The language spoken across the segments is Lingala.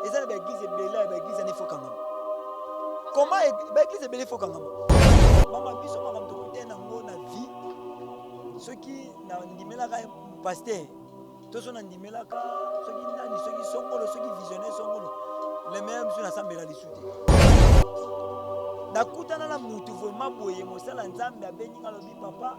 eza na ba eglise ebele ya ba eglise ya nefo kangama comment e, ba eglise ebele fo kangama mama biso makambo tokutani nango na vie soki nandimelaka pasteur to so nandimelaka soki nani soki songolo soki visionnaire songolo le meilleur biso nasambela lisu te nakutana na mutu vraimen boye mosala nzambe abengi nga lobi papa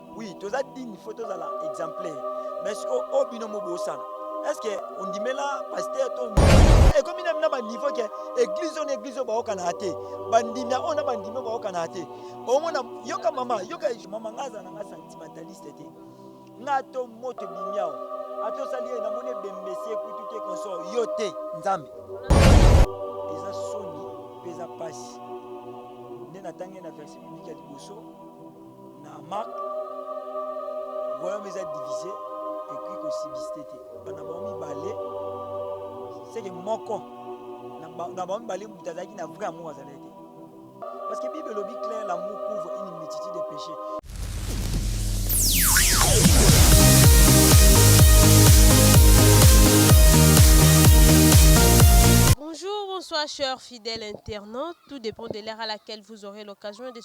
Oui, toza digne, faut tozala exemplaire. Mais ce que oh bino mo bosana. Est-ce que on dit mais là pasteur to et comme il a ba niveau que église on église ba okana até. Bandimia on a bandimia ba okana até. Au moins yoka mama, yoka mama ngaza na nga sentimentaliste té. Nga to moto bimiao. Ato sali na mone bembese kutu te konso yo te nzambe. Eza soni, pesa pasi. Nena tangi na verset biblique ya liboso na marque royaume eza divise ekoki kosibiste te bana bango mibale seke moko na bango mibale moto azalaki na vrai amour azalaki te parce que bible elobi claire l'amour couvre une multitude de péchés Bonjour, bonsoir, chers fidèles internautes. Tout dépend de l'heure à laquelle vous aurez l'occasion de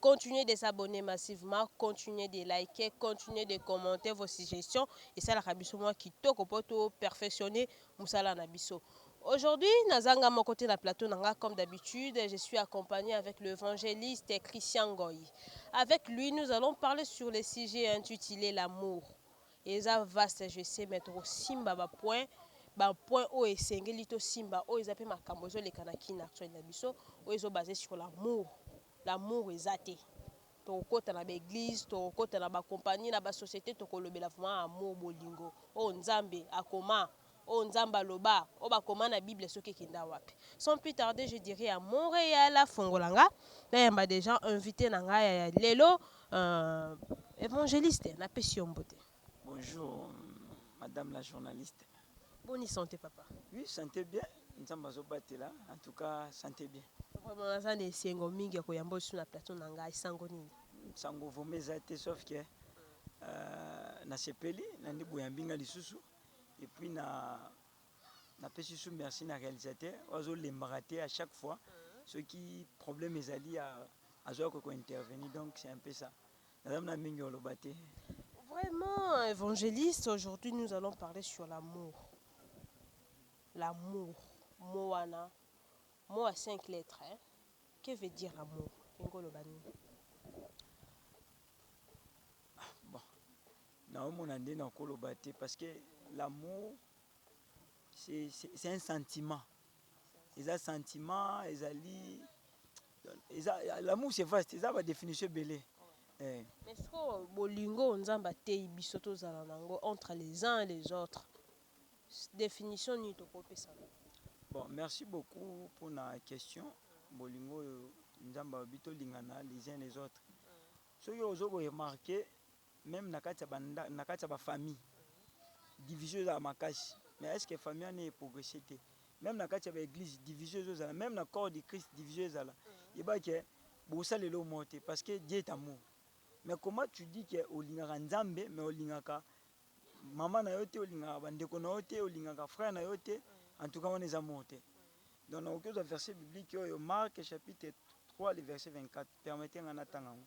Continuer de s'abonner massivement, continuer de liker, continuer de commenter vos suggestions esalaka biso mua kitoko po to perfectionner musala na biso. Aujourd'hui naza nga moko te na plateau na nga comme d'habitude je suis accompagne avec le evangeliste Christian Ngoy. Avec lui nous allons parler sur le sujet intitulé l'amour. Eza vaste je sais mais toko simba ba points ba points oyo esengeli to simba oyo eza pe makambo ezo leka na kin actuel na biso oyo ezo baser sur l'amour. L'amour eza te toko kota na ba eglise toko kota na ba compagnie na ba societe toko lobela vraiment amour bolingo oyo nzambe akoma oyo nzambe aloba oyo ba koma na bible soki ekenda wapi sans plus tarde je dirai à Montreal afongola nga na yamba dejà invite na nga ya lelo euh, evangeliste na pesi yo mbote. Bonjour madame la journaliste. Boni sante papa. Oui sante bien nzambe azo batela en tout cas sante bien. Vraiment naza na esengo mingi ya koyamba lisusu na plateau na ngai sango nini. Sango vraiment eza te sauf que euh, na sepeli na nde boyambi nga lisusu et puis na na pesi su merci na réalisateur ozo lembaka te à chaque fois soki problème ezali azoya ko intervenir donc c'est un peu ça. Naza na mingi oloba te. Vraiment, évangéliste, aujourd'hui nous allons parler sur l'amour. L'amour, mot wana, mot à cinq lettres. Hein? Que veut dire l'amour Ingolo Bani. Ah, bon, naomona nde nakoloba te parce que l'amour c'est un sentiment eza sentiment ezali eza l'amour c'est vaste eza ba définition ebele eh. mais sikoyo bolingo nzambe ateyi biso tozala na yango entre les uns et les autres définition nini tokopesa bon merci beaucoup mpona question bolingo oyo nzambe alobi tolingana les uns les autres soki ozo ko remarquer Meme na kati ya ba nda na kati ya ba famille division ezala makasi mais est ce que famille wana e progresser te? Meme na kati ya ba eglise division ezo zala meme na corps de Christ division ezala yeba ke boko sala eloko moko te parce que Dieu est amour mais comment tu dis ke olingaka Nzambe mais olingaka maman na yo te olingaka ba ndeko na yo te olingaka frère na yo te en tout cas wana eza amour te donc na koki ozwa verset biblique oyo Marc chapitre 3 le verset 24 permettez nga na tanga yango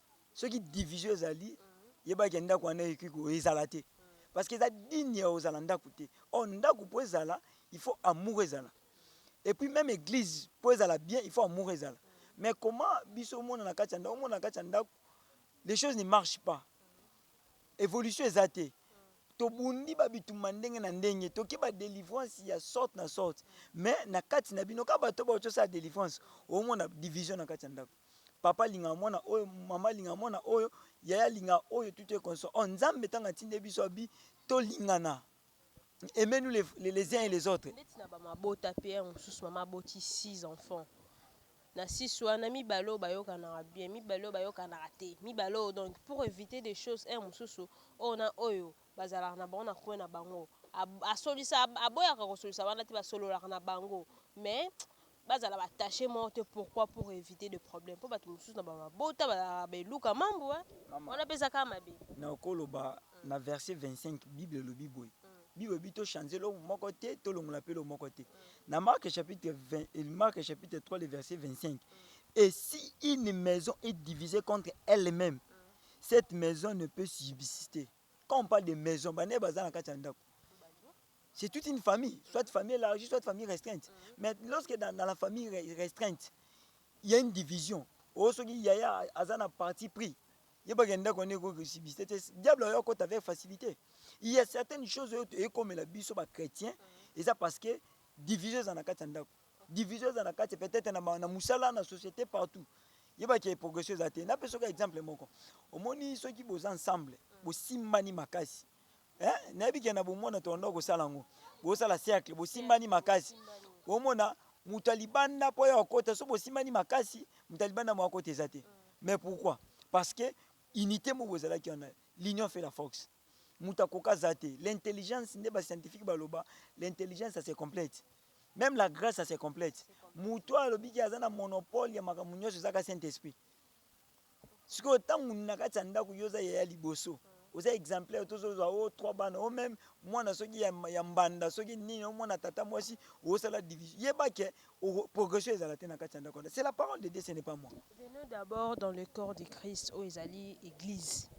Soki division ezali yeba ke ndaku wana ekoki ko ezala te parce que eza digne ya kozala ndaku te or ndaku po ezala il faut amour ezala et puis meme eglise po ezala bien il faut amour ezala mais comment biso omona na kati ya ndaku omona na kati ya ndaku les choses ne marchent pas evolution eza te tobundi ba bitumba ndenge na ndenge toki ba delivrance ya sorte na sorte mais na kati na bino ka bato baoki osala delivrance omona division na kati ya ndaku papa alinga mwana oyo mama alinga mwana oyo yaya alinga oyo tout est constant oh nzambe ntango atinde biso abi tolingana aimez nous les, les, les uns et les autres ndeti na bamabota mpe ya mosusu mama aboti 6 enfants na 6 wana mibale oyo bayokanaka bien mibale oyo bayokanaka te mibale oyo donc pour éviter des choses un mosusu oyo na oyo Bazalaka na bango na coin na bango asolisa aboyaka kosolisa wana te basololaka na bango mais bazala ba tache moko te pourquoi pour eviter de problème po bato mosusu na ba mabota bazalaka ba eluka mambu wana peza kaka mabe nakoloba na verse 25 bible elobi boye bible elobi to change eloko moko te tolongola pe eloko moko te na marke chapitre 20 marke chapitre 3 le verse 25 et si une maison est divisée contre elle-même Cette maison ne peut subsister. Quand on parle de maison, bana baza na kati ya ndako. C'est toute une famille, soit famille élargie, soit famille restreinte. Mm-hmm. Mais lorsque dans, dans la famille restreinte, il y a une division. Oh, ce qui y a, aza na parti pris. yebaka ndako wana ekoki kosibiste te diable oyo akota avec facilité il y a certaines choses oyo ekomela biso bachrétien mm-hmm. eza parce que division eza na kati ya ndako Division eza na kati peut-etre na ba na musala na societe partout. Yeba ke progression eza te. Na peso ka exemple moko. Omoni soki boza ensemble, bo simbani makasi. Hein? Na yebi ke na bo mwana to banda ko sala ngo. Bo sala cercle, bo simbani makasi. Bo mona mutu ya libanda po ya okota soki bo simbani makasi, mutu ya libanda mua kota eza te. Mais pourquoi? Parce que unite moko ezalaki wana. L'union fait la force. mutu akoka aza te l'intelligence nde ba scientifique baloba l'intelligence se complète meme la grace se complète mutu oyo alobi ke aza na monopole ya makambo nyonso ezaka saint esprit sikoyo ntango na kati ya ndako yo oza yaya liboso oza exemplaire tozozwa o oh, trois bana o oh, meme mwana soki ya, ya mbanda soki nini omwana oh, tata mwasi osala division yeba ke Progression ezala te na kati ya ndako wana c'est la parole de Dieu ce n'est pas moi. Venons d'abord dans le corps de Christ oyo ezali eglise.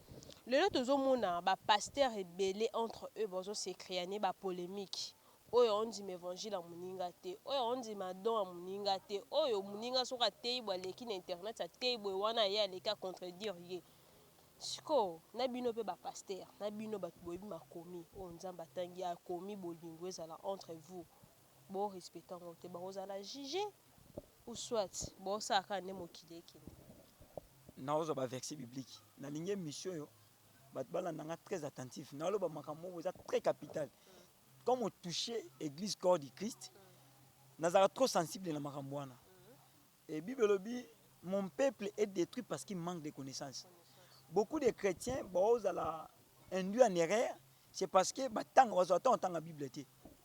Lelo tozo mona ba pasteurs ebele entre eux bazo se creaner ba polemiques. Oyo azo ndima evangile ya muninga te, oyo azo ndima don ya muninga te, oyo muninga soki ateyi boye aleki na internet ateyi boye wana ye aleki a contredire ye. Sikoyo na bino pe ba pasteurs, na bino batu boyebi makomi oyo Nzambe atangi akomi bolingo ezala entre vous bo respecter yango te bako zala juge ou soit bo sala kaka nde mokili ekende. Nazwa ba verset biblique nalingi emission oyo batu balanda nga très attentif naloba makambo moko eza très capital comme o touche eglise corps du christ nazalaka trop sensible na makambo wana et bible elobi mon peuple est détruit parce qu'il manque de connaissance beaucoup de chrétiens baozala induit en erreur c'est parce que batanga bazwa temps otanga bible te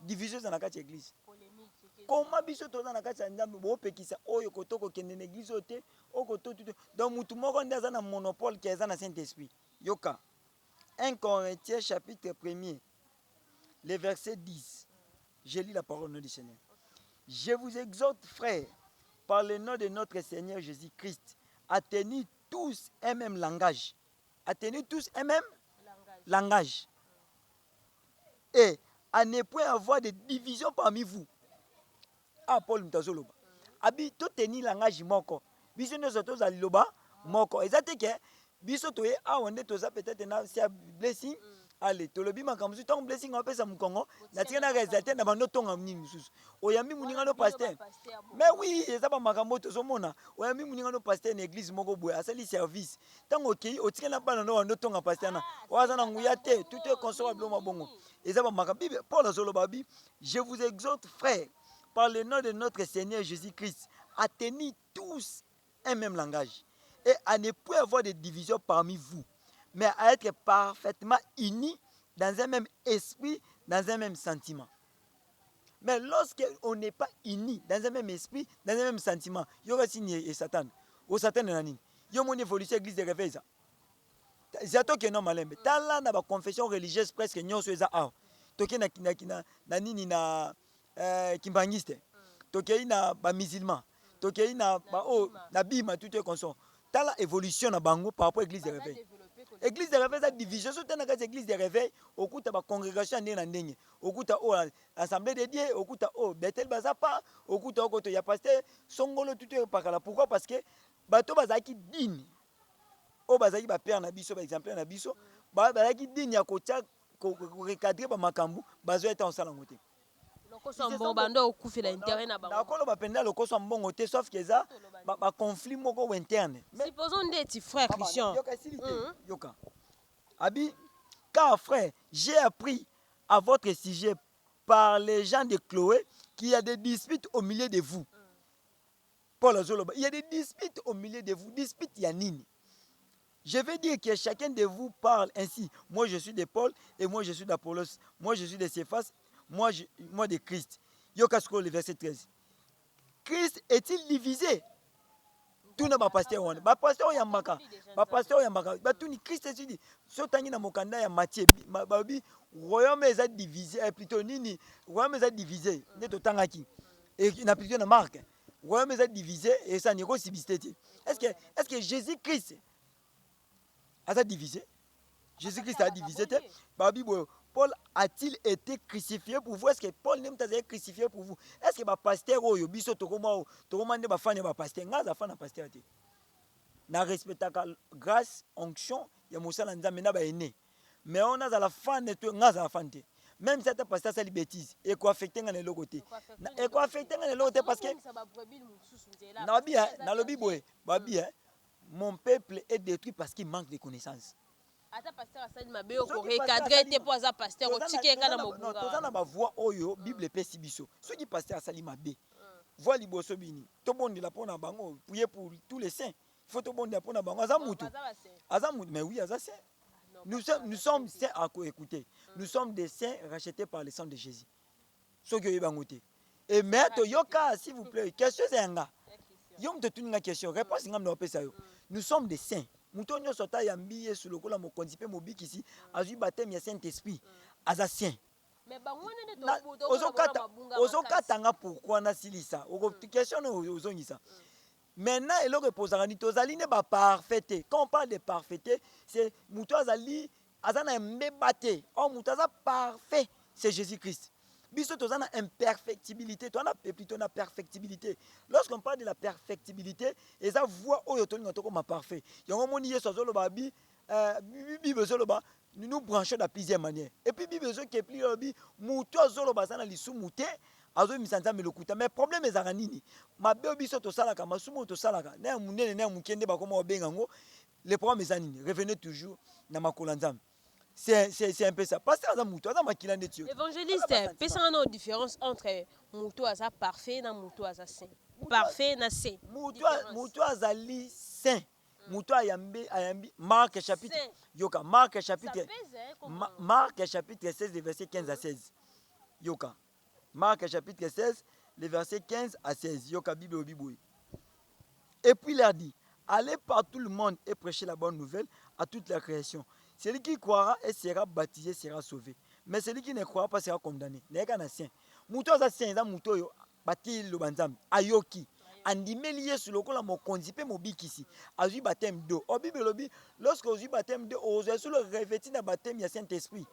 Division eza na kati ya eglise. Comment biso toza na kati ya Nzambe bopekisa oyo koto kokende na eglise oyo te okoto tout donc mutu moko nde aza na monopole ke eza na Saint Esprit. Yoka 1 Corinthiens chapitre 1er le verset 10. Je lis la parole nom du Seigneur. Je vous exhorte frère par le nom de notre Seigneur Jésus-Christ à tenir tous un même langage. À tenir tous un même langage. langage. et à ne point avoir de division parmi vous ah Paul moto azoloba abi to tenir langage moko biso nyonso tozala liloba moko eza te ke biso toye awa nde toza peut-être na sia blessing ale tolobi makambo mosusu ntango blessing apesa mokongo natika na resultat na bando tonga nini mosusu oyambi moninga no paster mais oui eza bamakambo oyo tozomona oyambi moninga no paster na eglise moko boye asali service ntango okei otikali na bana nao wando tonga pasteur na oyo aza na nguya te tout est consomma bilo mabongo eza bamaka bible paul azoloba bi je vous exhorte frère par le nom de notre seigneur jésus christ à tenir tous un même langage et à ne point avoir de division parmi vous mais à être parfaitement unis dans un même esprit dans un même sentiment Mais lorsque on n'est pas uni dans un même esprit, dans un même sentiment, yoka signe et Satan. O Satan na nini? Yo moni évolution église de réveil ça. Zato que non malembe. Tala na ba confession religieuse presque nyoso eza awa. Toke na na na nini na euh, kimbangiste. Toke na ba musulmans. tokeyi na ba oyo na bima tout est constant tala evolution na bango par rapport église de réveil église de réveil eza division so tana kati église de réveil okuta ba congregation ya ndenge na ndenge okuta oyo oh, assemblée de dieu okuta oyo oh, bethel baza pa okuta okoto ya pasteur songolo tout est pakala pourquoi parce que bato bazalaki dini oyo bazalaki ba père na biso ba exemplaire na biso bazalaki dini ya kotya recadrer ba makambo bazoya ntango osala yango te Lokoso ya mbongo banda okufela interet na bango. Nako loba penza lokoso ya mbongo te sauf que eza ba conflit moko ou interne. Supposons ndeti frère Christian. Yoka esili te yoka abi car frère j'ai appris à votre sujet par les gens de Chloe qu'il ya des disputes au milieu de vous Paul azoloba, il y a des disputes au milieu de vous. Dispute ya nini? Je vais dire que chacun de vous parle ainsi. Moi je suis de Paul et moi je suis d'Apollos. Moi je suis de Cephas, moi je, moi de Christ. Yoka sikoyo le verset 13. Christ est-il divisé? tuna bapasteur wana bapasteur oyo yambaka bapasteur oyo yambaka batuni krist esidi so otangi na mokanda ya matie balobi royaume eza divise eh, plutôt nini royaume eza divise nde totangaki Et na plusieurs na marque. Royaume eza divisé et ça niko subsister te. Est-ce que est-ce que Jésus-Christ aza divisé? Jésus-Christ a divisé te. Babi boyo Paul a-t-il été crucifié pour vous? Est-ce que Paul nde mutazali crucifié pour vous? Est-ce que ba pasteur oyo biso tokoma oyo tokoma nde ba fan ya ba pasteur? Nga za fan ya pasteur te. Na respectaka grâce onction ya mosala nzambe na ba aînés. mais on a la fan de toi nga la fan te même si ata pasteur asali bêtise eko affecte nga na eloko te eko affecte nga na eloko te parce que nalobi hein, nalobi boye babi hein, mon peuple est détruit parce qu'il manque de connaissances ata pasteur asali mabe yo korecadre te mpo aza pasteur otiki enga na mobunga toza na bavoi oyo mm. bible epesi biso soki pasteur asali mabe mm. voi liboso bini tobondela mpo na bango prier pour tous les saints faut tobondela mpo na bango aza motu aza motu mais oui aza saint nous sommes, nous sommes saints à écouter nous sommes des saints rachetés par le sang de jésus soki oyebi yango te e mais toyoka s'il vous plaît question eza ya nga yo moto otuni nga question réponse nga mna opesa yo nous sommes des saints moto oyo nyonso ata yambi yesu lokola mokonzi mpe mobikisi azwi bateme ya saint esprit aza saint ozokata nga pourkui nasilisa question oyo ozongisa Maintenant eloko epozaka ni tozali nde ba parfait te quand on parle de parfaite c'est mutu azali aza na mbeba te or mutu aza parfait c'est Jesus Christ biso toza na imperfectibilité toza na plutôt na perfectibilité lorsqu'on parle de la perfectibilité eza voie oyo tolinga tokoma parfait yango omoni Yesu azoloba bi Bible ezo loba nous nous branchons dans plusieurs manières et puis Bible ezo kepli lobi mutu azo loba aza na lisumu te azo misa Nzambe lokuta mais problème ezaka nini mabe biso to salaka masumu to salaka na ya munene na ya muke nde bakoma obenga ngo le problème eza nini revenez toujours na makola Nzambe c'est c'est c'est un peu ça pasteur aza mutu aza makila nde tiyo évangéliste pesanga na différence entre mutu aza parfait na mutu aza saint parfait na saint mutu azali saint moto ayambi, ayambi Marc chapitre yoka Marc chapitre Ma, Marc chapitre 16 le verset 15 à 16 yoka Marc chapitre 16 le verset 15 à 16 yoka Bible obi boye et puis il leur dit allez par tout le monde et prêchez la bonne nouvelle à toute la création celui qui croira et sera baptisé sera sauvé mais celui qui ne croira pas sera condamné nayeka na saint moto aza saint eza moto oyo Bateyi liloba Nzambe, ayoki, andimeli Yesu lokola mokonzi pe mobikisi, azui bapteme d'eau. Or bible elobi lorsque ozui bapteme d'eau ozua solo reveti na bapteme ya Saint Esprit.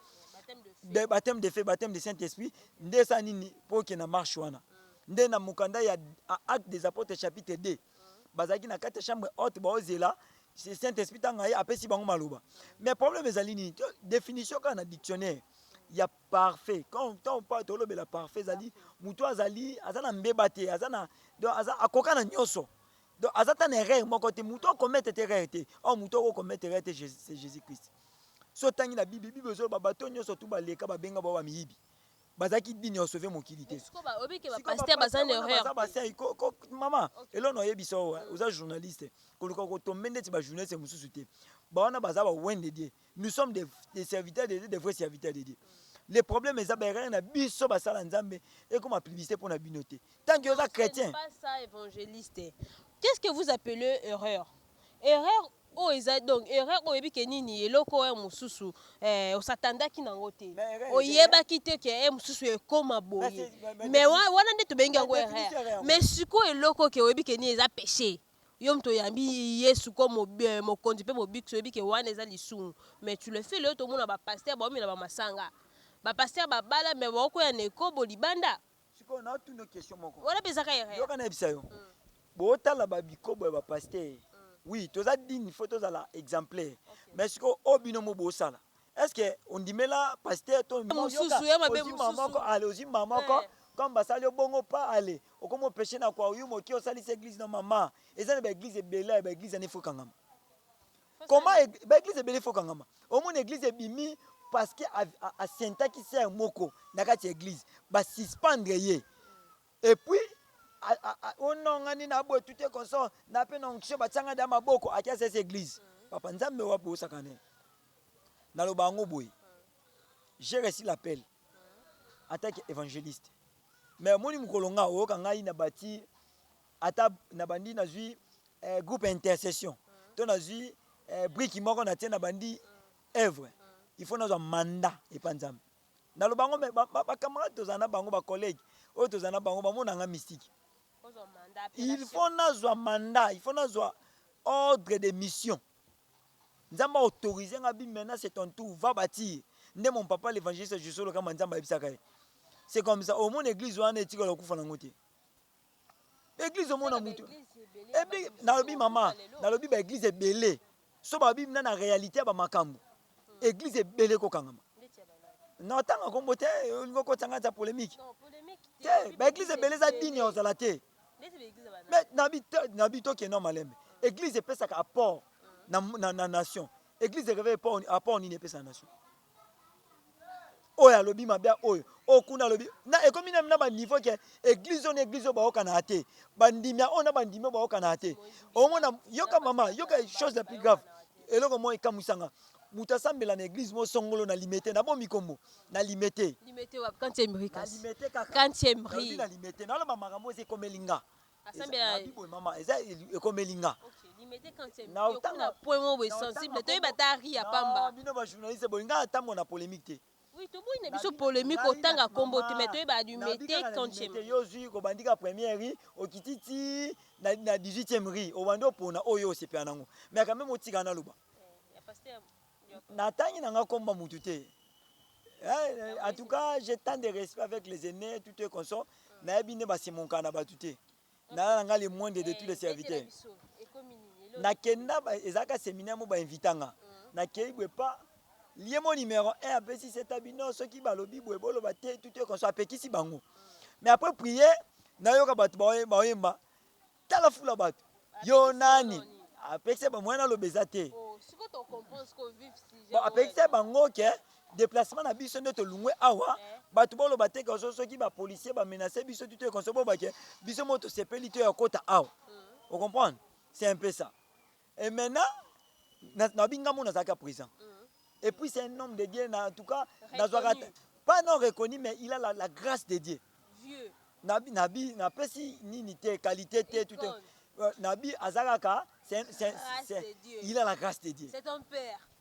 Bapteme de feu, bapteme de Saint Esprit nde esala nini po oke na marche wana? Nde na mokanda ya Actes des Apotres chapitre 2 bazalaki na kati ya chambre haute baozela Saint Esprit tanga ye apesi bango maloba. Mais problème ezali nini? Definition kaka na dictionnaire ya Parfait quand tant pas tolobela parfait ezali mutu azali aza na mbeba te aza na donc aza akoka na nyoso donc aza ta na erreur moko te mutu akomete te erreur te or mutu oko komete erreur te Jésus c'est Jésus Christ so otangi na bible bible ezoloba bato nyonso tu baleka babenga bao bamiyibi bazalaki dini ya osove mokili te mama elona oyebisa owa oza journaliste koluka kotombe ndeti bajournaliste mosusu te bawana baza bawendedie nous sommes des, des serviteurs de Dieu, des vrais serviteurs de Dieu. Le problème eza baerreur na biso basala Nzambe ekoma publicité mpo na bino te. Tant que oza chrétien. Pas ça évangéliste. Qu'est-ce que vous appelez erreur? Erreur oyo eza donc erreur oyo oyebi ke nini eloko oyo mosusu eh, osatandaki nango te Mais erreur eza- oyebaki te ke eh, mosusu ekoma boye Basi- ba- ba- mais wa- wana nde tobengi yango Ba- ba- erreur erreur. mais sikoyo eloko ke oyebi ke nini eza péché Yo mutu oyambi yesu comme mokonzi pe mobikisi oyebi ke wana eza lisumu mais tu le fais lelo tomona ba pasteur baomela ba masanga ba pasteur ba bala mais baokueya na ekobo libanda Sikoyo natuna yo question moko. Wana pe eza ka erreur. Yoka nayebisa yo. Mm. Botala ba bikobo ya ba pasteur. Mm. Oui, toza digne, faut tozala exemplaire. Okay. Mais sikoyo oyo bino mo bosala, Est-ce que ondimela pasteur to mususu ya mabe mususu moko ale ozimba moko eh. comme basali yo bongo pa ale okomo peche na kwa uyu moki osalisi église na mama eza na ba église ebele ya ba église ya nefo kangama comment ba église ebele fo kangama omona église ebimi parce que asentaki sœur moko na kati ya église ba suspendre ye et puis onongani na boye tout est consort na pe na onction batianga da maboko akiasesi église mm. papa nzambe wapi osakane Naloba yango boye j'ai reçu l'appel en tant que evangeliste mais omoni mokolo nga oyoka ngai na bati ata na bandi nazwi eh, groupe ya intercession to nazwi eh, briki moko natie na bandi œuvre il faut nazwa mandat epa nzambe naloba yango me bacamarade ba, ba bacamarade tozala na bango bacollege oyo tozala na bango bamona nga mystike Ozwa mandat, il appellation. faut nazwa mandat il faut nazwa ordre de mission Nzambe a autoriser nga bi menace et ton tout va batir nde mon papa l'evangeliste Josué Lokamba Nzambe ayebisaka ye c'est comme ça omona eglise wana etikala okufa nango te eglise omona mutu ebi nalobi mama nalobi ba eglise ebele so babi na na réalité ya ba makambo eglise ebele kokangama natanga kombo te olingi okotisa ngai za polemique te ba eglise ebele eza dini ya ozala te Mais nabi nabi to kenda malembe. Eglise epesaka apport na, na, na nation. Eglise ereveille apport, apport nini epesa na nation? Oyo alobi mabe oyo, oyo kuna alobi na ekomi na ba niveau ke eglise oyo na eglise oyo baokana ate. Bandimia oyo na bandimia oyo baokana ate. Omona yoka mama, yoka chose la plus grave. Eloko moi ekamwisanga. Moto asambela na eglise moko songolo na limete na bomi kombo na limete. Limete wapi? Kantie mrika. Na limete kaka. Kantie mri. Na limete. Na loba makambo eza ekomeli nga. Asambela. Na bibo mama eza ekomeli nga. Okay. Limete kantie mri. Na otanga. Point moko boye sensible. Toyeba ta ri ya pamba. Na bino ba journaliste boye nga atambo na polemique te. Oui, toboyi na biso polemique otanga kombo te mais toyeba adumete kancheme. Yo zui ko bandika première rue okiti ti na, na 18e rue obandi opona oyo osepela nango mais quand même otika na loba na tangi na nga komba mutu te eh, en tout cas j'ai tant de respect avec les aînés tout est consort na yebi nde ba se monka na batu te nalala nga le moindre de tous les serviteurs nakenda ezalaka seminaire mo ba invita nga nakei bwe pa lie mo numero 1 apesi seta bino soki balobi bwe boloba te tout est conscient apekisi bango mais après prier nayoka bato baoyemba tala fula bato yo nani apekisa ba moyen aloba eza te oh, bon, apekisa bango ke Deplacement na biso nde tolungwe awa bato boloba te kaso soki ba policier ba menace biso tuto ekonso boba ke biso mo tosepeli to ya kota awa mm. ocomprendre c'est un peu ça et maintenant nabi ngambo nazalaki ya présent mm. et puis c'est un homme de dieu na en tout cas nazwaka pas non reconnu mais il a la, la grâce de dieu Vieux. nabi nabi napesi nini te qualité te tout euh, nabi azalaka c'est, c'est, c'est, il a la grâce de dieu c'est ton père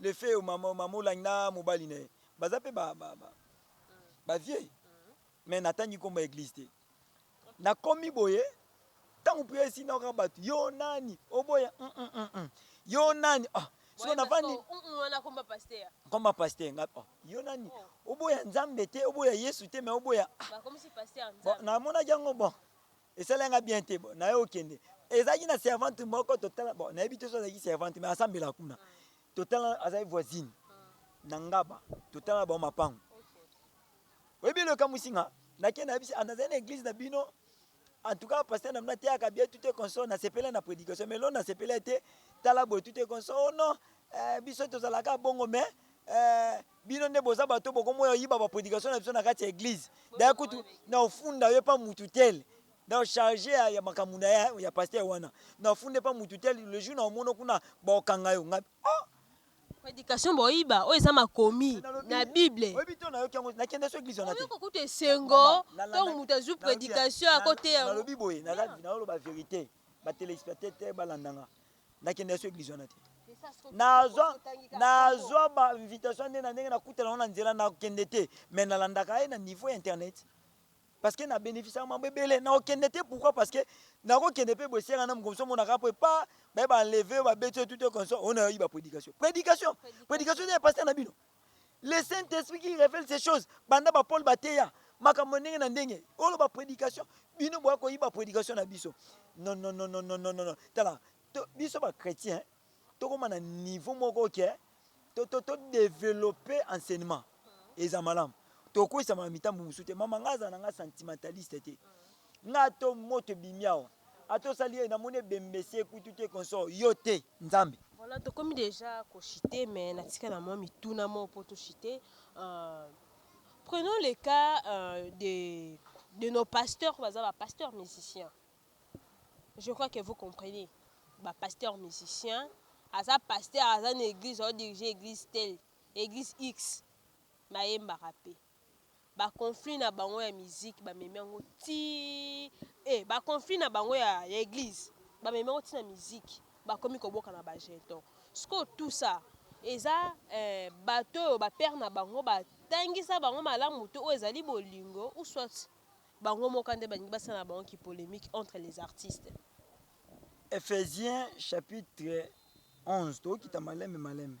Le fait oyo maman maman olangi na mobali na ye baza pe ba ba ba, ba vieux mais natangi kombo ya eglise te nakomi boye ntango priere esi nayoka bato yo nani oboya mm, mm, mm, mm. yo nani oh, siko navandi komba paster nga oh, yo nani oboya nzambe te oboya yesu te me oboya ah. namonaki yango bon Esalaki nga bien te bon nayo kende ezalaki na servante moko totala bon nayebi te soki azalaki servante mais asambela kuna totala azalaki voisine na ngaba totala bango mapango oyebi eloko ekamwisi nga nake nayebi se nazali na eglise na bino en tout cas pasteur na bino ateyaka bien tout est consort nasepela na prédication mais lo nasepela te tala boye tout est consort oh non eh, biso tozalaka bongo mais eh, Bino nde boza batu oyo bokomi oyiba ba predication na biso na kati ya eglise d'ailleurs kutu na ofunda yo epa mutu tel donc charge ya, ya makambo na ya, ya pasteur wana na ofunda epa mutu tel le jour na omono kuna baokanga yo nga oh Prédication boyiba oyo eza makomi Nalobi, na bible oyebi to nayoki yango nakenda so eglise wana te oyoko kutu esengo Maman, ntongo nalandaki- moto azwi nalobi ya- prédication nal- akoteya yango nalobi boye naza- naoloba verite ba telespectateur balanda nga nakenda yesu eglise wana te nazwa nazwa ba invitation nde na ndenge nakutana yango na nzela nakende te mais nalandaka ye na niveau ya internet parce que na bénéficiaka mambo ebele nakokende te pourquoi parce que nakokende mpe bosenga na mokomso monaka mpo epa baye baenleve yo babeti yo tute konso oyo nayoyi baprédication prédication prédication nde ya paster na bino Le Saint-Esprit qui révèle ces choses. Banda ba Paul bateya makambo ndenge na ndenge. Olo ba prédication, bino boya koyiba prédication na biso. Non non non non non non non. Tala, to, biso ba chrétiens tokoma na niveau moko ke to to to développer enseignement. Eza malamu. Tokwisa ma mitambo mususu te. Mama ngaza na nga sentimentaliste te. Mm. Nga to moto ebimi awa ata osali hee namoni ebembe se kutu te consort yo te nzambe. Voilà tokomi dejà ko chute mais na tika na mwa mituna moko po to chute prenons le cas de de nos pasteurs baza ba pasteurs musiciens je crois que vous comprenez ba pasteurs musiciens aza pasteur aza na eglise azo dirige eglise telle eglise X ba yembaka pe Ba conflit na bango ya musique ba memi yango ti eh ba conflit na bango ya ya eglise ba memi yango ti na musique ba komi ko boka na ba jeton sikoyo tout ça eza eh bato oyo ba père na bango ba tangisa bango malamu te oyo ezali bolingo ou soit bango moka nde balingi ba sala na bango ki polemique entre les artistes. Epheziens chapitre 11 tokokita malembe malembe.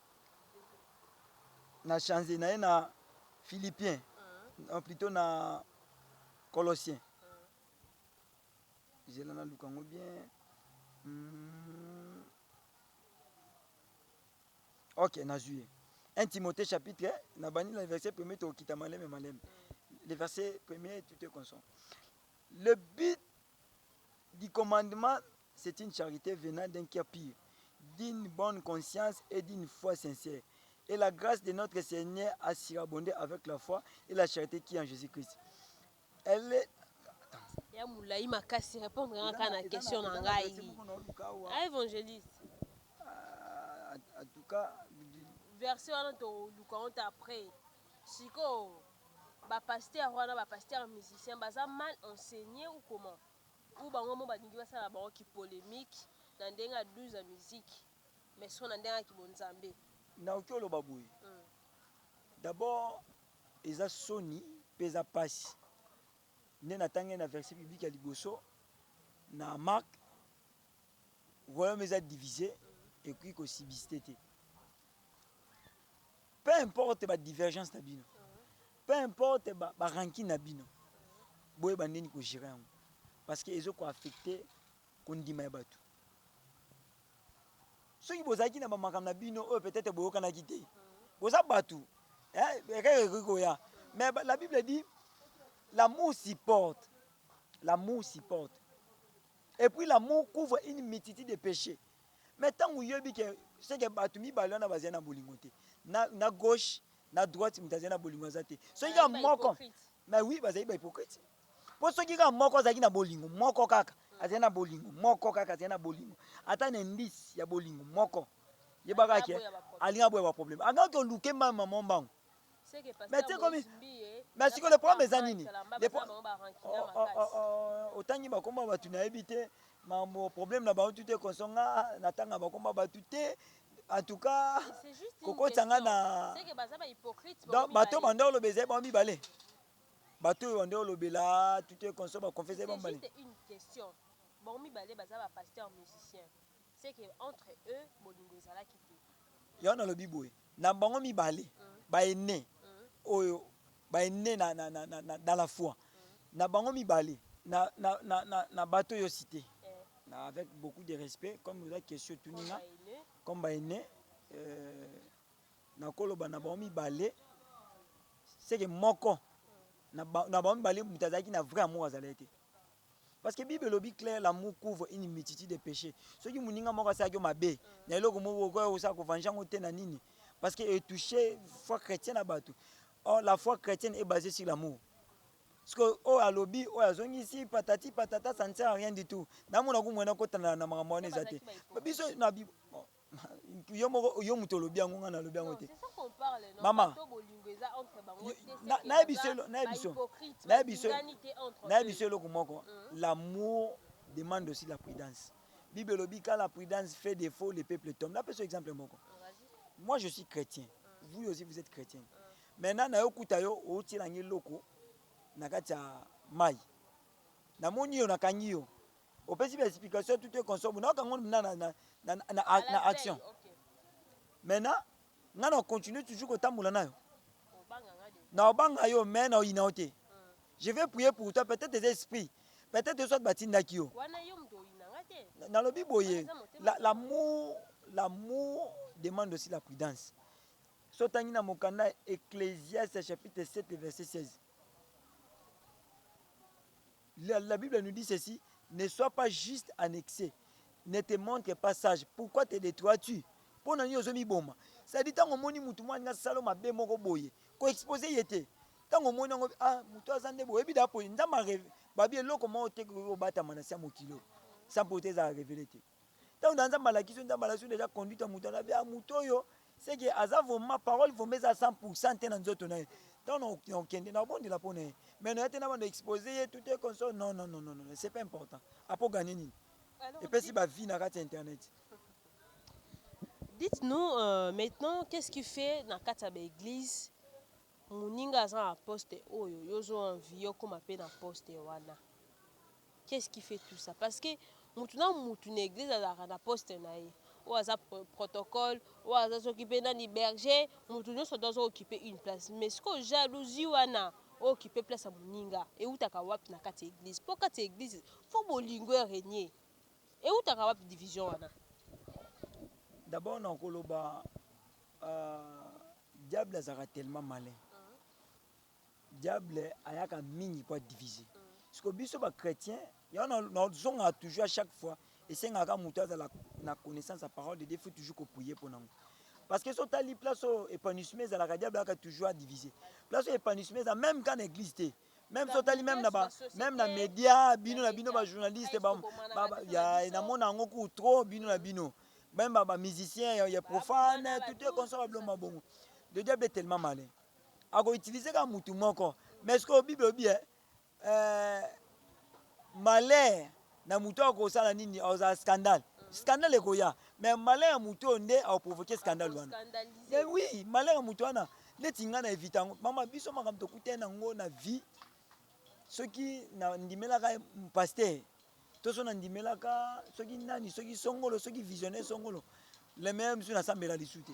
na change na ye na philippien non plutôt na colossien zela na luka yango bien mm. ok nazwi ye 1 timothée chapitre na bandi na verset premier tokokita maleme maleme le verset premier tout est constant le but du commandement c'est une charite venant d'un cœur pur, d'une bonne conscience et d'une foi sincère. Et la grâce de notre Seigneur a surabondé avec la foi et la charité qui est en Jésus-Christ. Elle est ya molai makasi répondre nga kaka na question na ngai a évangéliste Ah, en tout cas, verset wana toluka honte après Sikoyo ba pasteur wana ba pasteur musicien baza mal enseigne ou comment? Ou bango moko balingi basala na bango ki polemique na ndenge ya 12 ya musique mais sikoyo na ndenge ya ki bonzambe? Naoki oloba boye d'abord eza soni pe eza pasi nde natangi na verset biblique ya liboso na Marc royaume eza divise ekoki ko subiste te. Peu importe ba divergences na bino, peu importe ba ba rancune na bino, boyeba ndeni ko gerer yango parce que ezo ko affecter kondima ya batu. Soki bozalaki na ba makambo na bino oyo peut-être boyokanaki te, boza batu eh, erreur ekoki koya mais ba- la Bible dit l'amour supporte, l'amour supporte et puis l'amour couvre une multitude de péchés. Mais tangu oyebi ke ce que batu mibale wana bazali na bolingo te, na, na gauche na droite moto azali na bolingo aza te, soki kaka moko mais oui bazali bahypocrite mpo soki kaka moko azalaki na bolingo moko kaka azali na bolingo moko kaka azali na bolingo ata na indice ya bolingo moko yebaka ke alinga boya baproblème akaka oluke mama mwa mbango Mais te komi mais siko le problème eza nini le pro... oh, oh, oh, oh, otangi bakombo ya bato nayebi te mambo problème na bango tu te konso nga natanga bakombo ya bato te en tout cas kokotisa nga na donc bato bande oloba ezali bango mibale bato oyo bande olobela tu te konso bakonfese bango mibale bango mibale baza bapasteur musicien C'est que entre eux bolingo ezalaki te. Yango nalobi boye na bango mibale ba aine oyo ba aine na, na, na, na, na, dans la foi na bango mibale na, na, na, na, na bato oyo cite na avec beaucoup de respect comme oza question etuni nga comme ba aine euh, nakoloba na bango mibale seke moko na ba- na bango mibale moto azalaki na vrai amour azalaki te Parce que Bible elobi clair l'amour couvre une multitude de péchés. Soki muninga moko asalaki yo mabe na eloko moko okoya kosala ko venger yango te na nini? Parce que e touche foi chrétienne na batu. Or la foi chrétienne est basée sur l'amour. Sikoyo oyo alobi oyo azongisi patati patata ça ne sert à rien du tout. Namona kumwena kotana na makambo wana eza te. Biso na yo moko yo moto olobi yango ngai nalobi yango te mama naye biso eloko moko mm. l'amour demande aussi la prudence bible elobi quand la prudence fait défaut le peuple tombe napesa exemple moko moi je suis chrétien mm. vous aussi vous êtes chrétien mm. maintenant nayo okuta yo otiela ngai eloko na kati ya mai namoni yo nakangi yo Opesi ba explication tout est consomme. Na kango na na na na, na, na action. Okay. Maintenant, nga na continue toujours kotambola nayo. Na obanga yo mais na oyina te. Hmm. Je vais prier pour toi peut-être des esprits. Peut-être soit batindaki yo. Wana yo mdo oyina nga te. Na lobi boye l'amour l'amour demande aussi la prudence. Sotangi na mokanda Ecclésiaste chapitre 7 verset 16. La, la Bible nous dit ceci, ne sois pas juste en excès, ne te montre pas sage, pourquoi te detroitu? Mpo na nini ozomiboma? Sadi ntango omoni motu mwa alingi asala mabe moko boye, ko expose ye te. Ntango omoni yango, ah, motu aza nde boye, ebida apo nzambe areve, babi eloko moko te koki kobatama na se ya mokili oyo, sans pourtant ezala revele te. Tango na Nzambe alakisi yo, Nzambe alakisi yo deja conduite ya moto, alobi ah moto oyo c'est que aza vraiment parole vraiment eza 100% te na nzoto na ye. Tango na okende na obondela mpo na ye. Mais na ye te na banda expose ye tout est comme ça. Non non non non non, c'est pas important. Apo gagner nini? Epesi ba vie na kati ya internet. Dites-nous euh, maintenant qu'est-ce qui fait na kati ya ba église moninga aza na poste oyo yo zo envie okoma pe na poste wana. Qui est-ce qui fait tout ça? Parce que mutu na mutu na eglise azalaka na poste na ye. Oyo aza protocole, oyo aza soki pe nani berger, mutu nionso doit azo occuper une place. Mais sikoyo jalousie wana o occuper place ya muninga ewutaka wapi na kati ya eglise? Po kati ya eglise faut bolingo e regner. Ewutaka wapi division wana? D'abord na koloba diable azalaka tellement malin. Diable ayaka mingi po a diviser. Sikoyo biso ba chretiens, yango nazongaka toujours à chaque fois, esengaka kaka mutu azala na connaissance ya parole de Dieu, il faut toujours ko prier pona ngo. Parce que soki otali place oyo epanouissement ezalaka, diable ayaka toujours a diviser. Place oyo epanouissement eza meme kaka na eglise te. Meme soki otali meme na ba meme na media, bino na bino ba journalistes ba, ba, ba ya namona yango ku trop bino na bino. Meme ba, ba musiciens ya, ya profane, tout est consommables mabongo. Le diable est tellement malin. ako utiliser kaka mutu moko mais sikoyo bible obi eh, eh, malheur na mutu oyo akosala nini akozala scandale scandale ekoya mais malheur ya mutu oyo nde akoprovoke scandale wana mais oui malheur ya mutu wana neti ngai na evita yango mama biso makambo tokutani na yango na vie soki nandimelaka paster to so na ndimelaka soki nani soki songolo soki visionnaire songolo le meilleur misu na sambela lisu te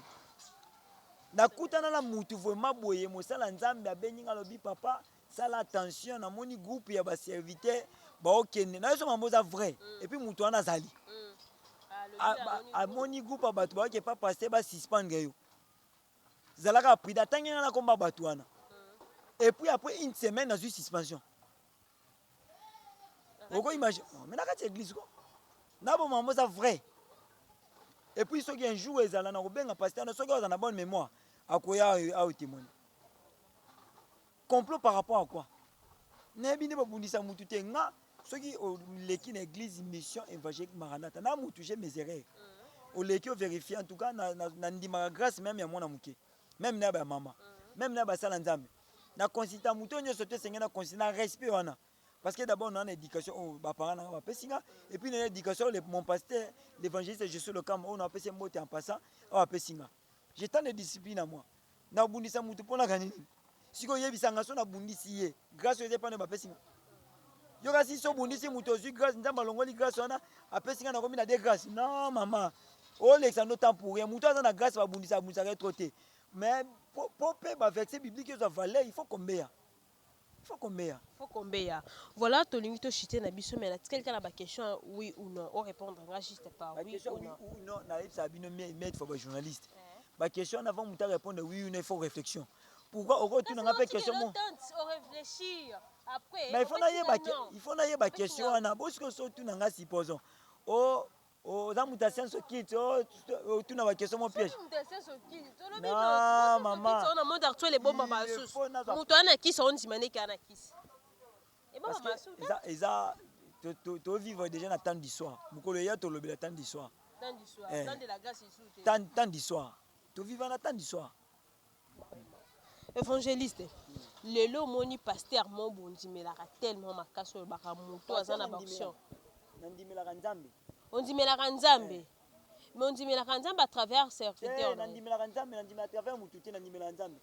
nakutana na mutu vraiment boye mosala nzambe abengi nga alobi papa sala attention namoni groupe ya baserviteur baokende na yoso mambo oza vrai mm. epuis mutu wana azali mm. ah, amoni groupe ya bato baoke pa paster basuspendre yo zalaka prida atangi nga nakomba bato wana mm. epuis après une semaine nazwi suspension oko image oh, mais na kati ya église ko na bo mambo za vrai et puis soki un jour ezala na kobenga pasteur na soki aza na bonne mémoire akoya au témoigner complot par rapport à quoi nayebi nde babundisa mutu te nga soki oleki na église mission évangélique maranata na mutu je mes erreurs mm. oleki overifie en tout cas nandimaka na, na, na grâce meme ya mwana moke meme na ya bamama mm. meme na ya basala nzambe na consultant moto oyo nyonso te esengeli na consultant na respect wana parce que d'abord na na éducation oyo oh, baparent na nga bapesi nga et puis na éducation oyo mon pasteur l'évangéliste je suis le camp oyo oh, napesi mbote en passant oyo apesi nga j'ai tant de discipline na moi nabundisa motu mpo naka nini sikoyo oyebisa nga so nabundisi ye grâce oyo eza epai na bapesi nga yo kasi so obundisi moto ozwi grâce nzambe alongoli grâce wana apesi nga nakomi na de grâce non mama olekisa ndo temps pour rien moto aza na grâce babundisa abundisaka ye trop te Mais po pe ba verset biblique ezwa valeur il faut kombeya il faut kombeya. Faut kombeya voilà tolingi to chite na biso mais na tikali kaka na ba question ya oui ou non o repondre nga juste par oui ou non. Ba question oui ou non na yebisa bino mie mie for ba journaliste ba question wana avant mutu a repondre oui ou non il faut réflexion pourquoi oko tuna nga pe question mo. O reflechir après. Mais il faut na yeba il faut na yeba question wana bo siko so tuna nga supposons o Oh, oza moto ya science okiti oh, otuna bakestion mo piège moto aa na kisi ondima ndeke aa na kisi eza tovivre déjà na temps du soir mokolo eya tolobela temps du soir temps du soir toviva na temps du soir Evangeliste lelo omoni pasteur mo bondimelaka tellement makasi oyo baka moto aza na baction nandimelaka nzambe ondimelaka nzambe me ondimelaka nzambe à travers serviteur na ye. nandimelaka nzambe nandimela travers motu te nandimelaka nzambe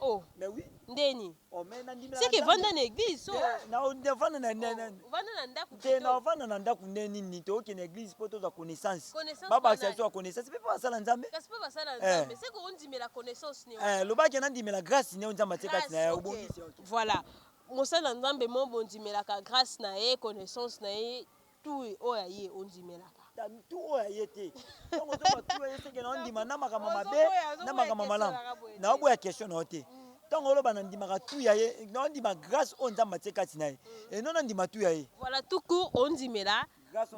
oh mais oui ndeni Oh, mais na ndimela seke Nzambe. vanda na eglise so Eh, na ovanda na na- na- Oh, ovanda na ndako te plutôt. na ovanda na ndako nde nini toyoki na eglise mpo tozwa connaissance Connaissance babakisa banani? biso ya connaissance mpe mpo basala nzambe kasi mpe basala Eh. nzambe seke ondimela connaissance ne Eh, lobaki nandimela grâce neo nzambe atie kati na ye obongisi ok. voilà mosala na nzambe mo bondimelaka grâce na ye connaissance na ye Tui oyo ya ye ondimelaka. Ta mtu oyo ya ye te. Tango ozo loba tu oyo ya ye seke nao ndima na makambo ya mabe na makambo ya malamu. Nao boya question na yo te. Tango oloba na ndimaka tu ya ye nao ndima grace oyo Nzambe atie kati na ye et non na ndima tu ya ye. Voilà tout court ondimela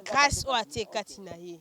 grace oyo atie kati na ye.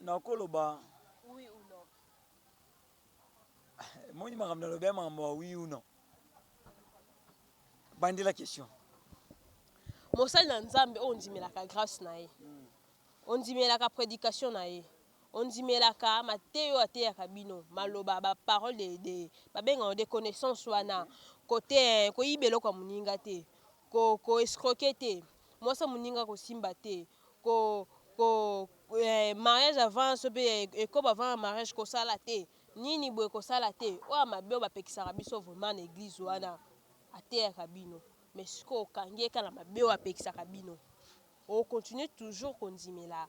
Nakoloba oui ou non. Omoni makambo nalobi ya makambo ya oui ou non. Bandela question. Mosali na Nzambe oyo ondimelaka grace na ye. Hmm. Ondimelaka predication na ye. Ondimelaka mateyo oyo ateyaka bino, maloba ba parole de, de babengaka de connaissance wana. Kote koyiba eloko ya moninga te. Ko ko escroquer te, mwasi ya moninga ko simba te, ko ko eh, mariage avant so pe eh, ekobo avant ya mariage ko sala te, nini boye ko sala te, oyo ya mabe oyo ba pekisaka biso vraiment na eglise wana a teyaka bino, mais sikoyo okangi ye kaka na mabe oyo a pekisaka bino, o continuer toujours ko ndimela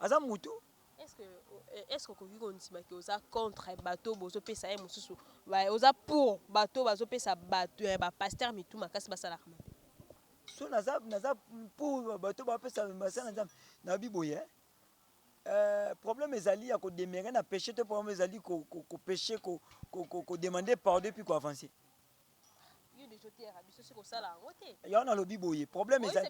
aza mutu est ce que okoki kondima ke oza contre bato bozopesa ye mosusu oza pour bato bazopesa bato ya bapaster mitu makasi basalaka mabe so naza naza pour bato bapesa masala nzambe na biboye Euh, problème ezali ya kodemere na péché to problème ezali kopeshe ko, ko, ko, ko, ko, ko demander pardon epuis koavance yango nalobi boye problème eza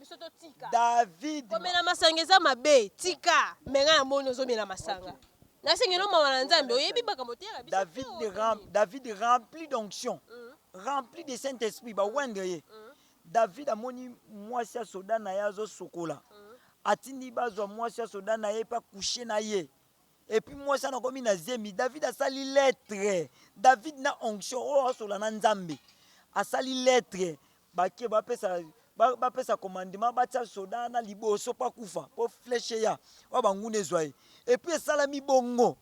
david komela masanga eza mabe tika me ngai namoni ozomela masanga okay. nasengelo mawa na nzambe oyebi makambo te david, ram, david rempli d'onction mm. rempli de saint esprit bawendre ye mm. david amoni mwasi ya soda na ye azosokola mm. atindi bazwa mwasi ya soda na ye mpe akushe na ye Epuis mwasi wana akomi na zemi, David asali lettre, David na onction oyo asola na Nzambe, asali lettre bake bapesa bapesa commandement batia soda wana liboso mpo akufa mpo fleshe ya oyo banguna ezwa ye epuis esalami bongo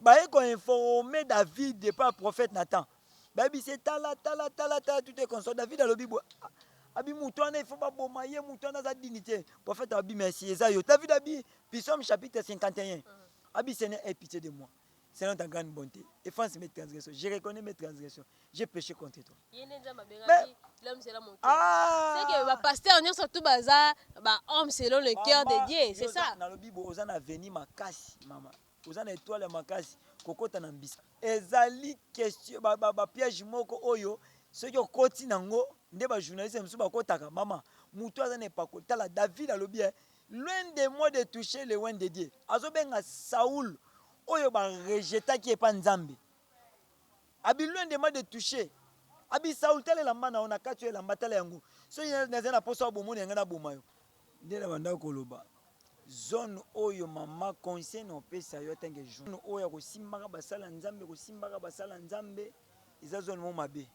baye koinforme david epai ya prophète nathan Bayebisi ye tala tala tala tala tout est constant. David alobi boye ah, abi moto wana ifo baboma ye moto wana aza dini te profete abi merci eza yo david abi pisome chapitre 51 mm. abi seigneur aie pitié de moi selon ta grande bonté efface mes transgressions je reconnais mes transgressions j'ai péché contre toi bapasteur ah! nyonso tu baza bahomme selon le cœur de dieu c'est ça nalobi bo oza na veni makasi mama Oza na etoile ya makasi kokota na mbisa ezali question ba, ba, ba piège moko oyo soki okoti nango nde ba journaliste mosusu bakotaka mama mutu aza na epakoli tala david alobi eh, loin de moi de toucher le loin de dieu azobenga saul oyo barejetaki epa nzambe Abi loin de moi de toucher Abi Saul tala elamba na yo na kati oyo elamba tala yango soki nazali na posa obomo na yangai na boma yo. Nde na bandaki koloba zone oyo mama conseil na opesa yo atanke jour oyo akosimbaka basala nzambe kosimbaka basala nzambe eza zone mo mabe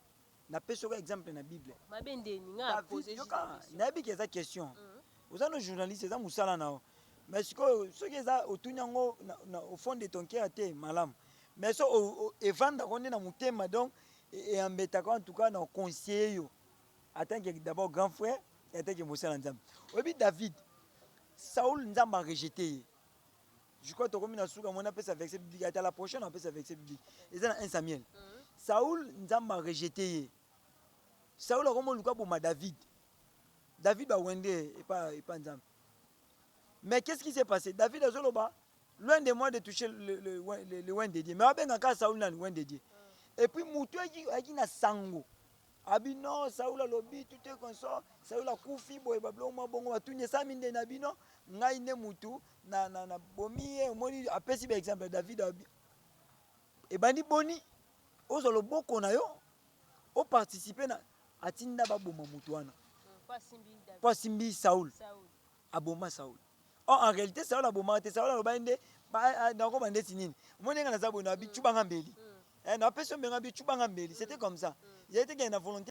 napesi yoka exemple na bible mabe ndeni nga pose yoka nayebi ke eza question mm. oza no journaliste eza mosala na yo mais sikoyo soki eza otuni yango au fond de ton cœur te malamu Mais so evandaka yo nde na motema donc e embetaka yo en tout cas na conseiller yo en tant que d'abord grand frère et en tant que mosala Nzambe. Oyebi David Saul Nzambe a rejeter ye. Je crois tokomi na suka mona pesa verset biblique ata la prochaine on pesa verset biblique. Eza na 1 Samuel. Mhm. Saul Nzambe a rejeter ye. Saul akomo luka boma David. David ba wende epa epa Nzambe. Mais qu'est-ce qui s'est passé? David azoloba loin de moi de toucher le, le, le, le oint de Dieu mais abenga kaka Saul nani oint de Dieu et puis mutu ayaki na sango abi no Saul alobi tout est conso Saul akufi boye babiloko mwa bongo batuni esami nde na bino ngai nde mutu na, na, na bomi ye omoni apesi ba exemple David abi ebandi boni ozwa loboko na yo oparticipe na atinda baboma mutu wana mpo asimbi Saul, Saul. aboma Saul or en realite Saul abomaka te Saul alobaki nde ba- eh, eh, nakoba ndeti nini omoni ndenge naza boye na bi cuba nga mbeli Eh, na pesi yo mbenga bi cuba nga mbeli c'était comme ça ezali te kende na volonté